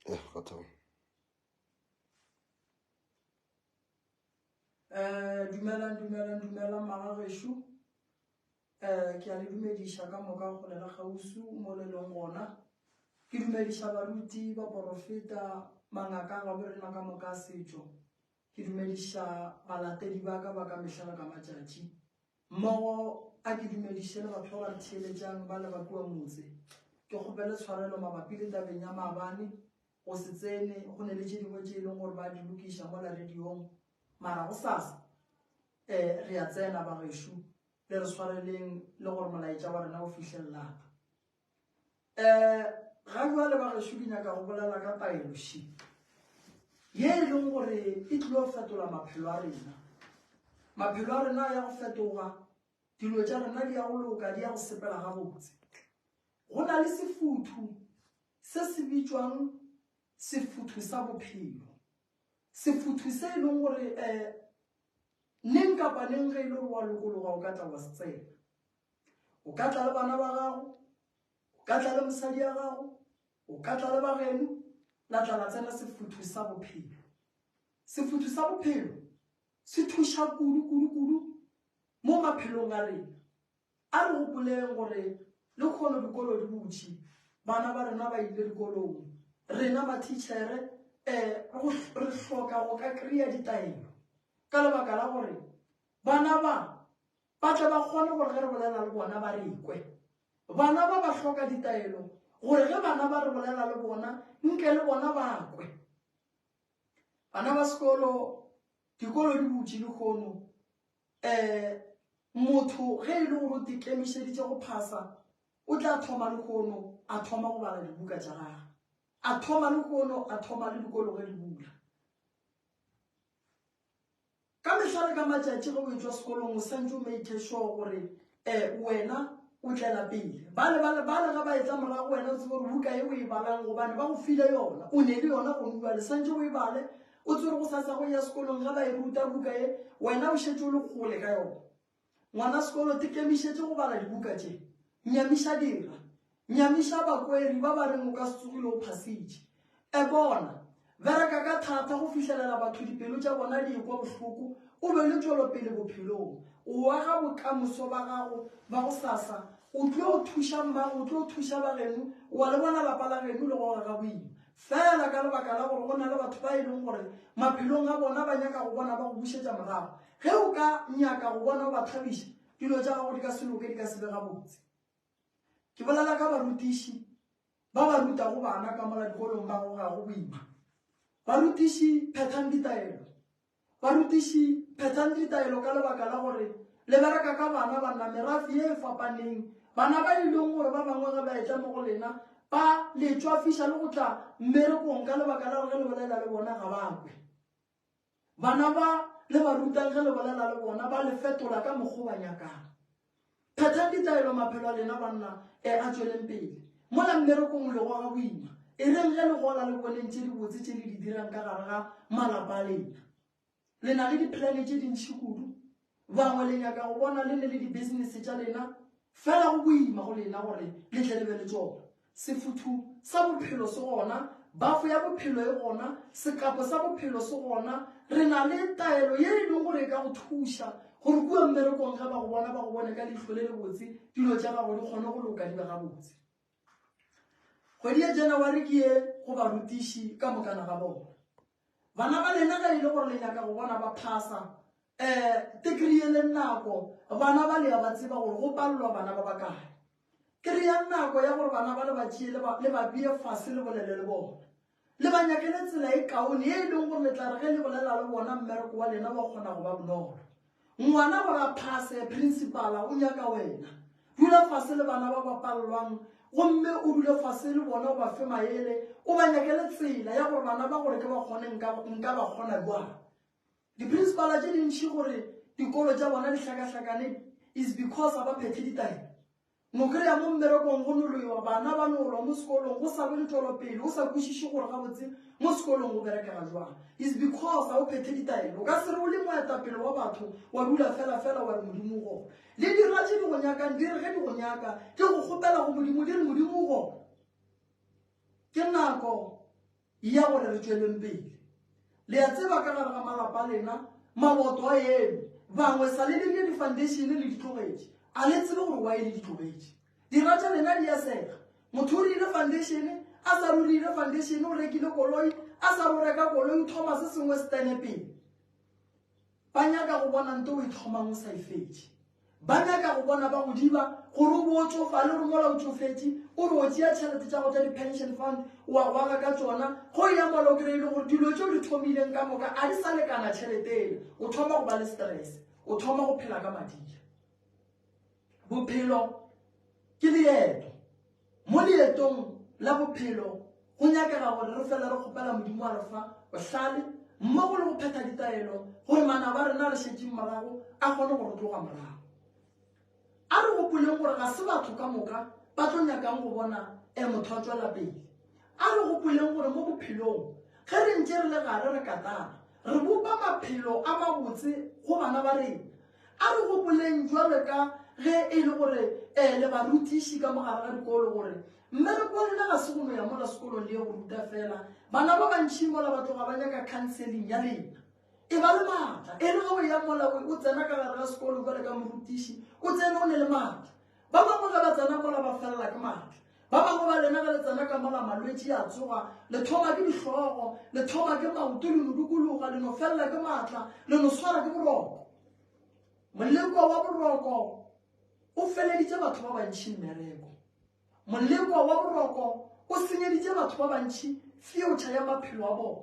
Eh, kgathang. Eh, dumelang dumelang dumelang magagesho um eh, ke a le dumediša ka moka go lela gausu mo le leng gona ke dumediša baruti baporofeta mangaka ga bo rena ka moka setšo ke dumediša balatedi ba ka ba ka mehla le ka matšatši Mmogo a ke dumediše le batho ba ba re theeletšang ba le ba kua motse. Ke kgopele tshwarelo mabapi le tabeng ya maabane, go se tsene, go ne le tše dingwe tše e leng gore ba di lokiša mola rediong. Mara gosasa, e, re a tsena, bagešo. Le re swareleng, le gore molaetša wa rena o fihle lapa. Um ga jwale ba gešo ke nyaka go bolela ka paeloši ye e leng gore e tlile go fetola maphelo a rena maphelo a rena a ya go fetoga dilo tša rena di ya go loka di ya go sepela gabotse go na le sefuthu se se bitšwang sefuthu sa bophelo sefuthu se e leng gore um neng kapa neng ge e le gore wa lokologa o ka tla wa se tsena o ka tla le bana ba gago o ka tla le mosadi ya gago o ka tla le bageno la tla la tsena sefuthu sa bophelo sefuthu sa bophelo se thuša kudu kudu kudu mo maphelong a rena a re gopoleng gore le kgolo dikolo di butšhi bana ba rena ba ile dikolong rena matitšhere um eh, re hloka go ka kry-a ditaelo ka lebaka la gore bana ba ba tle ba kgone gore ge re bolela le bona ba re kwe bana ba ba hloka ditaelo gore ge bana ba re bolela le bona nke le bona ba kwe bana ba sekolo dikolo di butše dikgono um eh, motho ge e le gore o dikemišeditše go phasa o tla thoma lekgono a thoma go bala dibuka tša gage a thoma lekgono a thoma le dikolo ge di bula Ka mehla le ka matšatši ge o etšwa sekolong o santše o make sure gore um wena o tlela pele. Bale ba le bale ge ba etla morago wena o tsebe gore buka ye o e balang gobane ba go file yona, o ne le yona gongwe bale santše o e bale o tsebe gore go sa tsa go ya sekolong ge ba e ruta buka ye wena o šetše o le kgole ka yona. Ngwana sekolo, te kemišetše go bala dibuka tše. Nyamiša dira. Nyamiša bakweri ba ba reng o ka se tsogile o phasitše. E bona. Bereka ka thata go fihlelela batho dipelo tša bona di ekwa bohloko, o be le tšwelopele bophelong. O aga bokamoso ba gago ba gosasa. O tlo thušang mang? O tlo thuša ba geno? O a le bona lapa la geno le go ga Gaboima? Feela ka lebaka la gore go na le batho ba e leng gore maphelong a bona ba nyaka go bona ba go bušetša morago, ge o ka nyaka go bona o ba thabiša, dilo tša gago di ka se loke, di ka se be gabotse. Ke bolela ka barutiši ba ba rutago bana ka mola dikolong ba gogago boima. Barutiši, phethang ditaelo. Barutiši, phethang ditaelo ka lebaka la gore le bereka ka bana banna merafe ye e fapaneng. Bana ba e leng gore ba bangwe ge ba etla mo go lena ba le tšwafiša le go tla mmerekong ka lebaka la gore ge le bolela le bona ga ba kwe. Bana ba le ba rutang ge le bolela le bona ba le fetola ka mokgwa o ba nyakang. Phethang ditaelo maphelo a lena banna e a tšweleng pele. Mola mmerekong le goga boima. E reng ge le gola le boneng tše dibotse tše le di dirang ka gare ga malapa a lena. Le na le diplane tše dintši kudu. Bangwe le nyaka go bona le ne le dibisinese tša lena fela go boima go lena gore le tle le be le tšona. Sefuthu sa bophelo se gona, bafo ya bophelo e gona, sekapo sa bophelo se gona. Re na le taelo ye e lego gore e ka go thuša gore kua mmerekong ge ba go bona ba go bone ka leihlo le lebotse, dilo tša gago di kgone go loka di be gabotse. Kgwedi ya Janawari ke ye go barutiši ka mokana ga bona. Bana ba lena ge e le gore le nyaka go bona ba phasa eh, tekrie le nako bana ba le ya ba tseba gore go palelwa bana ba bakae. Kry-a nako ya gore bana ba le ba tšee le ba bee fase le bolele le bona. Le ba nyakele tsela e kaone e e leng gore le tla re ge le bolela le bona mmereko wa lena wa kgona go ba bonolo. Ngwana gore a phase, principala o nyaka wena. Dula fase le bana ba ba pallwang gomme o dule fase le bona o ba fe maele, o ba nyakele tsela ya gore bana ba gore ke ba kgone nka ba kgona jwang. Di-principala tše dintši gore dikolo tša bona di hlakahlakane is because ga ba phethe ditaelo. Nokelo ya mo mmerekong go noloiwa, bana ba nolwa mo sekolong go sa lwe letolo pele o sa kwešiše gore gabotse mo sekolong go berekega jwang. Is because ga o phethe ditaelo. O ka se re o le moetapele wa batho wa dula felafela wa re Modimo o gona. Le dirwa tše di go nyakang di re ge di go nyaka di go kgopela go Modimo di re Modimo o gona. Ke nako. E ya gore re tšweleng pele. Le a tseba ka gare ga malapa a lena, maboto a eme. Bangwe sa le dirile difandeišene le ditlogetše. A le tsebe gore wae le ditlogetše? Dira tša lena di a sega. Motho o rile fandeišene, a sa rurile fandeišene, o rekile koloi, a sa roreka koloi, o thoma se sengwe se tene pele. Ba nyaka go bona nto o e thomang o sa e fetše. Ba nyaka go bona ba go diba gore o bo o tšofale gore mola o tšofetše o re o tšea tšhelete tša go tša di-pension fund wa gwaga ka tšona go ya mola o kry-ile gore dilo tšeo di thomileng ka moka a di sa lekana tšheleteele o thoma go ba le stress o thoma go phela ka madila bophelo ke leeto Mo leetong la bophelo go nyakega gore re fele re kgopela Modimo a re fa bohlale mmogo le go phetha ditaelo gore manaba a rena a re šetšeng morago a kgone go re tloga morago. A re gopoleng gore ga se batho ka moka ba tlo nyakang go bona e motho a tšwela pele. A re gopoleng gore mo bophelong ge re ntše re le gare re katana, re bopa maphelo a mabotse go bana ba rena. A re gopoleng bjalo ka ge e le gore e le barutiši ka mo gare ga dikolo gore mmereko wa rena ga se go no ya mola sekolong le ye go ruta fela. Bana ba bantši mola ba tloga ba nyaka khanseling ya lena. E ba le matla. E re ge o ya mola o tsena ka gare ga sekolo bjalo ka morutiši, o tsene o ne le matla. Ba bangwe ge ba tsena mola ba felela ke matla. Ba bangwe ba lena ge le tsena ka mola malwetši a tsoga, le thoma ke dihlogo, le thoma ke maoto, le no dukologa, le no felela ke maatla, le no swara ke boroko. Moleko wa boroko o feleditše batho ba bantši mmereko. Moleko wa boroko o senyeditše batho ba bantši feuture ya maphelo a bona.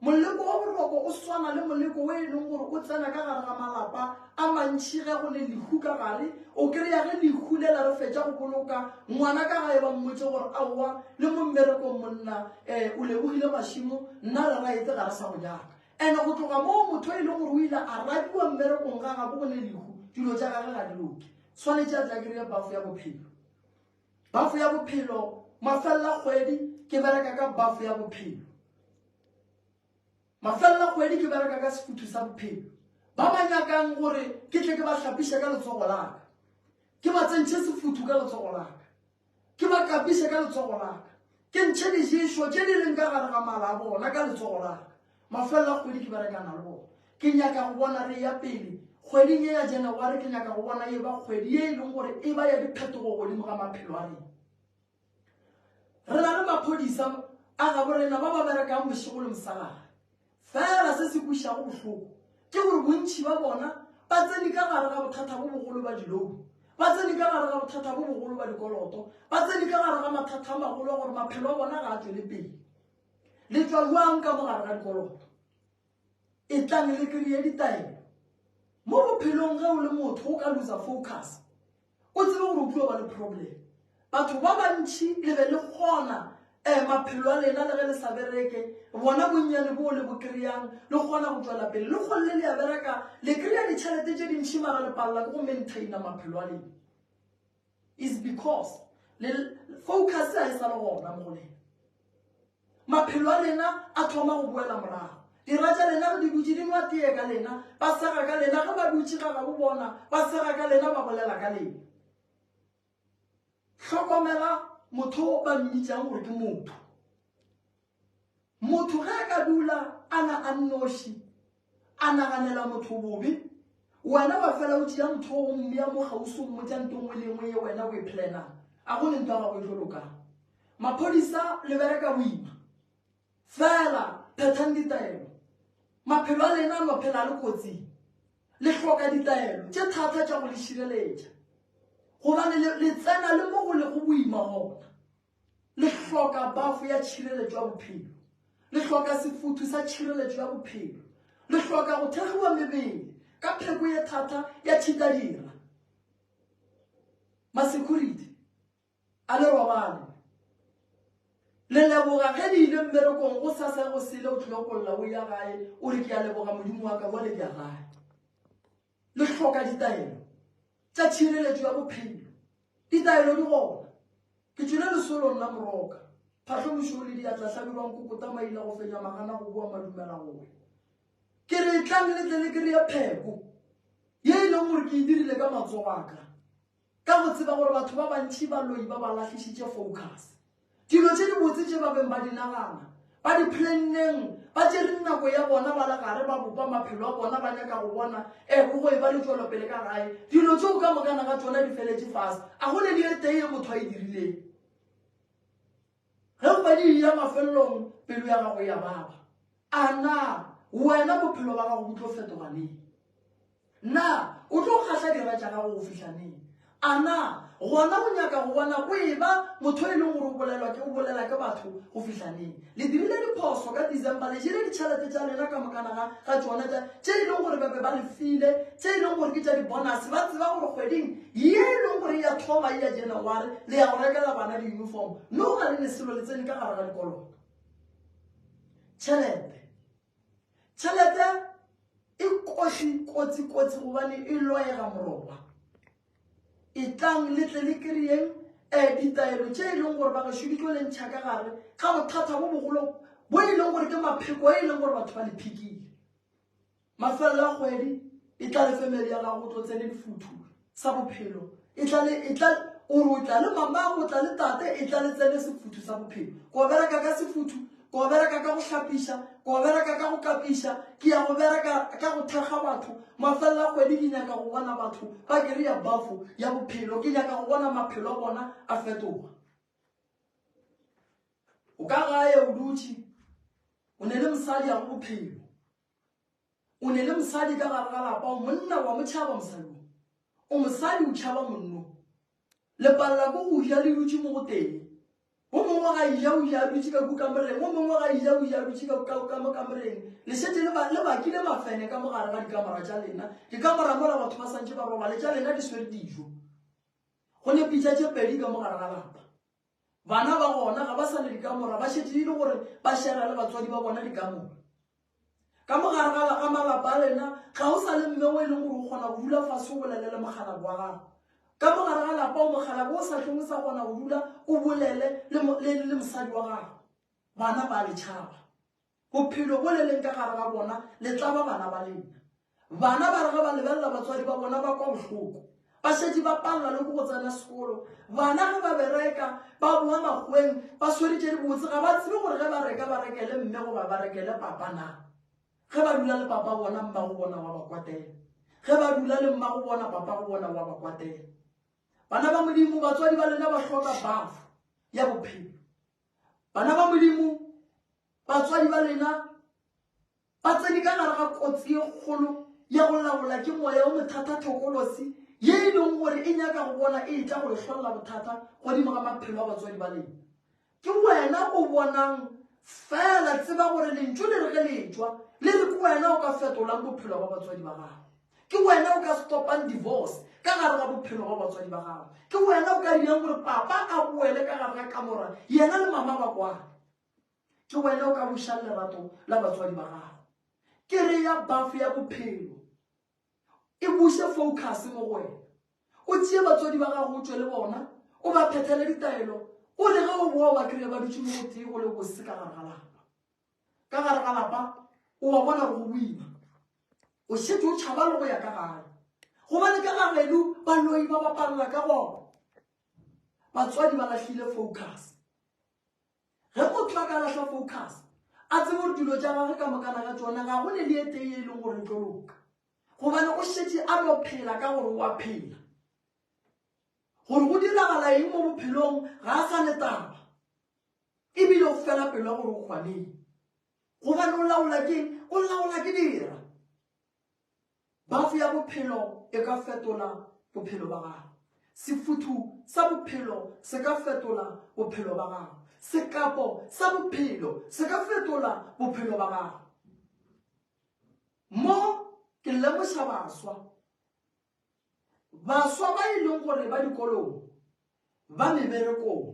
Moleko wa boroko o swana le moleko wo e leng gore o tsena ka gare ga malapa a mantši ge go le lehu ka gare. O kry-a ge lehu le la re fetša go boloka ngwana ka gae ba mmotse gore aowa le mo mmerekong monna um o lebogile mašimo nna re raetse ga re sa go nyaka. And-e go tloga moo motho e leng gore o ile a rabiwa mmerekong ga gabo go ne lehu dilo tša gage ga di loke. Tshwanetše a tla kry-e bafo ya bophelo. Bafo ya bophelo mafelela kgwedi ke bereka ka bafo ya bophelo mafelela kgwedi ke bereka ka sefuthu sa bophelo ba ba nyakang gore ke tle ke ba hlapiše ka letsogo laka ke ba tsentšhe sefuthu ka letsogo laka ke ba kapiše ka letsogo laka ke ntšhe diješo tše di leng ka gare ga mala a bona ka letsogo laka Mafelelo a kgwedi ke berekana le bona. Ke nyaka go bona re eya pele. Kgweding ye ya Janaware ke nyaka go bona e eba kgwedi ye e leng gore e ba ya diphetogo godimo ga maphelo a rena. Re na le maphodisa a gabo rena ba ba berekang bošego le mosegare. Fela se se kwešišago bohloko ke gore bontši ba bona ba tsene ka gare ga bothata bo bogolo ba dilounu, ba tsene ka gare ga bothata bo bogolo ba dikoloto, ba tsene ka gare ga mathata a magolo a gore maphelo a bona ga a tšwele pele. le tšwa bjang ka mogare ga dikoloto e tlang le kry-e ditaelo mo bophelong ge o le motho o ka losa focus o tsebe gore o tlo ba le problem batho ba bantšhi le be le kgona um maphelo a lena le ge le sa bereke bona bonnyane boo le bo kry-ang le kgona go tswela pele le kgolele le ya bereka le kry-a ditšhelete tše dintšhi mara le palela ke go maintaina maphelo a lena is because le focus a e sa le gona mo go lena maphelo a lena a thoma go boela morago dira tša lena re di dutse di nwa tee ka lena ba sega ka lena ge ba dutse ga ga bo bona ba sega ka lena ba bolela ka lena hlokomela motho ba mmitšang gore ke motho Motho ge a ka dula a na a nnoši, a naganela motho bobe, wena wa fela o tšea motho o mmea mo gausi o mmotša nto nngwe le nngwe ye wena o e planang, a go le nto ya gago e tlo lokang. Maphodisa le bereka boima, fela phethang ditaelo. Maphelo a lena no phela le kotsing, le hloka ditaelo tše thata tša go le šireletša gobane le tsena le mo go lego boima gona. Le hloka bafo ya tšhireletšo ya bophelo. Le hloka sefuthu sa tšhireletšo ya bophelo. Le hloka go thegiwa mebele ka pheko ye thata ya tšhitadira. Masekhuriti, a le robale. Le leboga ge le ile mmerekong go sa sa go sele o tlhile go lla o ya gae o re ke a leboga modimo wa ka jwale ke a gae. Le hloka ditaelo tša tšhireletšo ya bophelo. Ditaelo di gona. Ke tšwile lesolong la moroka, phahlo mošoro le diatla hlabirwa nkokota maila go fenya magana go boa madumela gore ke re etlang le tle le kry-e pheko ye e leng gore ke e dirile ka matsogo a ka. Ka go tseba gore batho ba bantši ba loi ba ba lahlišitše focus. Dilo tše dibotse tše ba beng ba di nagana, ba di planneng, ba tšere nako ya bona ba le gare ba bopa maphelo a bona ba nyaka go bona e go e ba le tšwelopele ka gae. Dilo tšeo ka mokana ga tšona di feletše fase. A go ne le e tee e motho a e dirileng? Ge o padi e ya mafelelong, pelo ya gago e a baba. A na wena bophelo ba gago bo tlo fetoga neng? Na o tlo kgahla dira tša gago go fihla neng? A na gona o nyaka go bona o e ba motho e leng gore o bolelwa ke o bolela ke batho go fihla neng? Le dirile diphoso ka December, le jele ditšhelete tša lena ka mokana ga ga tšona tša tše e leng gore ba be ba le file, tše e leng gore ke tša dibonase, ba tseba gore kgweding ye e lego gore e ya tlhoba e ya Janaware, le ya go rekela bana di-uniform, mme go na le leselo le tsene ka gare ga dikoloto. Tšhelete. Tšhelete e kotsi, kotsi, kotsi gobane e loega morongwa. E tlang le tle le kry-eng um ditaelo tše e leng gore ba gašo di tlo le ntšha ka gare ga bothata bo bogolo bo e leng gore ke mapheko e leng gore batho ba le phikile. Mafelelo a kgwedi, e tla le fe medi a gago o tlo tsene lifuthu sa bophelo. E tla le, e tla, o re o tla le mamago, o tla le tate, e tla le tsene sefuthu sa bophelo. Ke o bereka ka sefuthu, ke o bereka ka go hlapiša, ke o bereka ka go kapiša, ke ya go bereka ka go thekga batho. Mafelelo a kgwedi ke nyaka go bona batho ba kry-a bafo ya bophelo, ke nyaka go bona maphelo a bona a fetoga. O ka gae o dutše, o ne le mosadi ya go bophelo, o ne le mosadi ka gare ga lapa o monna wa motšhaba mosading o mosadi o tšhaba monno lepalela ko go ja le dutše mo go teng o mongwe ga ija o ja dutše ka kukamoreng o mongwe ga ija o ja dutše kamo kamoreng le šetse le bakile mafene ka mo gare ga dikamora tša lena dikamora mola batho ba swantšhe ba robale tša lena di swere dijo go ne pitša tše pedi ka mo gare ga lapa Bana ba gona ga ba sa le dikamora, ba šetše e le gore ba šera le batswadi ba bona dikamora. Ka mogare ga ga malapa a lena ga o sa le mme o e leng gore o kgona go dula fase o bolele le mokgalabo wa gago. Ka mogare ga lapa o mokgalabo o sa hlong o sa kgona go dula o bolele le mosadi wa gago, bana ba letšhaba. Bophelo bo le leng ka gare ga bona le tla ba bana ba lena. Bana ba re ge ba lebelela batswadi ba bona ba kwa bohloko, ba šetše ba palelwa le ke go tsena sekolo. Bana ge ba bereka, ba boa makgoweng ba swere tše dibotse, ga ba tsebe gore ge ba reka ba rekele mme goba ba rekele papa na. Ge ba dula le papa bona, mmago bona wa ba kwatela. Ge ba dula le mmago bona, papago bona wa ba kwatela. Bana ba Modimo, batswadi ba lena ba hloka bafo ya bophelo. Bana ba Modimo, batswadi ba lena ba tsene ka gare ga kotsi e kgolo ya go laola ke moya wo mothata thokolosi ye e leng gore e nyaka go bona e etla go lehlolela bothata godimo ga maphelo a batswadi ba lena. Ke wena o bonang fela tseba gore lentšu le re ge le tšwa le re ke wena o ka fetolang bophelo ba batswadi ba gago. Ke wena o ka stopang divorce ka gare ga bophelo ba batswadi ba gago. Ke wena o ka dirang gore papa a boele ka gare ga kamora yena le mama ba kwana. Ke wena o ka bušang lerato la batswadi ba gago. Ke re ya bafo ya bophelo e buse focus mo go wena. O tšee batswadi ba gago o tšwe le bona, o ba phethele ditaelo, o re ge o boa wa kry-a ba dutše mo gotee go le bose ka gare ga lapa. ka gare ga lapa o wa bona gore go boima o šetše o tšhaba le go ya ka gae gobane ka gageno baloi ba bapalela ka gona batswadi ba lahlile focus ge motho a ka lahla focus a tsebe gore dilo tša gage ka mokana ga tsona ga go ne le etee e leng gore tlo loka gobane o šetše a no phela ka gore wa phela gore go diragala eng mo bophelong ga a sa le taba e bile o fela pelo gore o kgwaneng gobane o laola ke o laola ke dira bafo ya bophelo e ka fetola bophelo ba gago sefuthu sa bophelo se ka fetola bophelo ba gago sekapo sa bophelo se ka fetola bophelo ba gago mo ke lemoša baswa Baswa ba e leng gore ba dikolong, ba meberekong,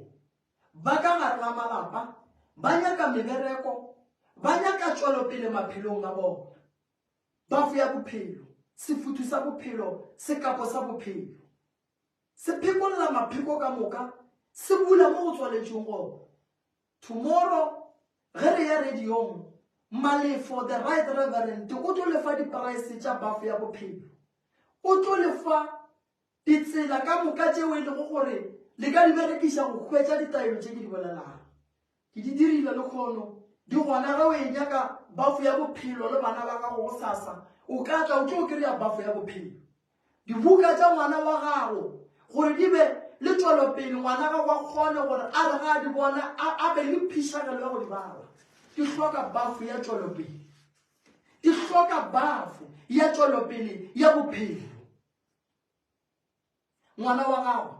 ba ka gare ga malapa, ba nyaka mebereko, ba nyaka tšwelopele maphelong a bona. Ba foya bophelo, sefuthu sa bophelo, sekapo sa bophelo. Se phekolla mapheko ka moka, se bula mo go tswaletšweng gona. Tomorrow ge re ya radiong, Malefo the Right Reverend o tlo le fa dipraese tša bafo ya bophelo. O tlo le fa ditsela ka moka tšeo e lego gore le ka di berekiša go hwetša ditaelo tše ke di bolelago. Ke di dirile lekgono, di gona ge o e nyaka bafo ya bophelo le bana ba gago gosasa, o ka tla o tlo kry-a bafo ya bophelo. Dibuka tša ngwana wa gago gore di be le tšwelopele, ngwana gago a kgone gore a re ga a di bona a be le phišagelo ya go di bala. Di hloka bafo ya tšwelopele. Di hloka bafo ya tšwelopele ya bophelo. Ngwana wa gago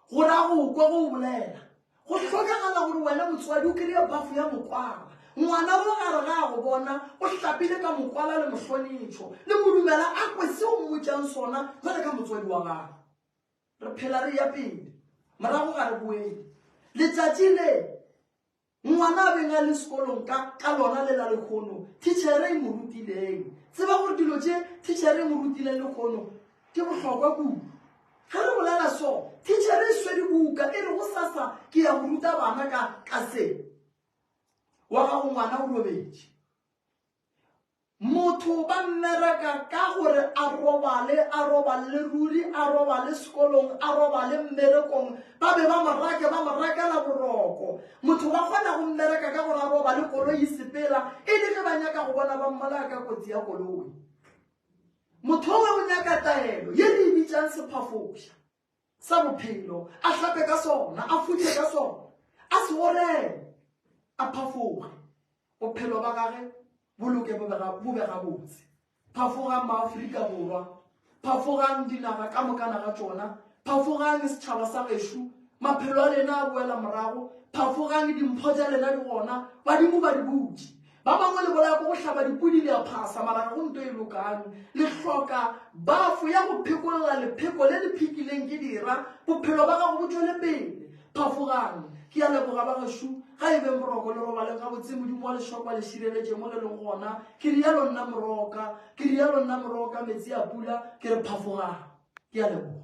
Go ra go kwa go bolela. Go hlokagala gore wena motswadi o kry-e bafo ya mokwala. Ngwana o gare ga a go bona o hlapile ka mokwala le mohlonetšho, le mo dumela a kwe se o mmotšang sona jwale ka motswadi wa gagwe. Re phela re eya pele, morago ga re boele. Letšatši le. Ngwana a beng a le sekolong ka, ka lona le la lekgono, thitšhere e mo rutileng. Tseba gore dilo tše thitšhere e mo rutileng lekgono ke bohlokwa kudu. Ge re bolela so, thitšhere e swere buka e re go sasa ke ya go ruta bana ka, ka se. Wa gago ngwana o robetše. Motho ba mmereka ka gore a robale, a roballe ruri, a robale sekolong, a robale mmerekong. Ba be ba mo rake, ba mo rakela boroko. Motho ba kgona go mmereka ka gore a robale koloi sepela, e le ge ba nyaka go bona ba mmolaya ka kotsi ya koloi. Motho we o nyaka taelo, ye re e bitšang sephafoša. sa bophelo, a hlape ka sona, a futše ka sona, a se orele, a phafoge, bophelo ba gage bo loke bo be gabotse. Phafogang maafrika borwa, phafogang dinaga ka mokana ga tšona, phafogang setšhaba sa gešu, maphelo a lena a boela morago, phafogang dimpho tša lena di gona, badimo ba di butše. Ba bangwe le bolaya ko go hlaba dipudi le a phasa mara ga go nto e lokang. Le hloka bafo ya go phekolela lepheko le le phikileng ke dira bophelo ba gago bo tšwele pele. Phafogang. Ke a leboga bagešo. Ga e beng boroko le robaleng gabotse. Modimo wa lešoko a le šireletše mo le leng gona. Ke rialo nna Moroka. Ke rialo nna Moroka Metsi a pula. Ke re phafogang. Ke a leboga.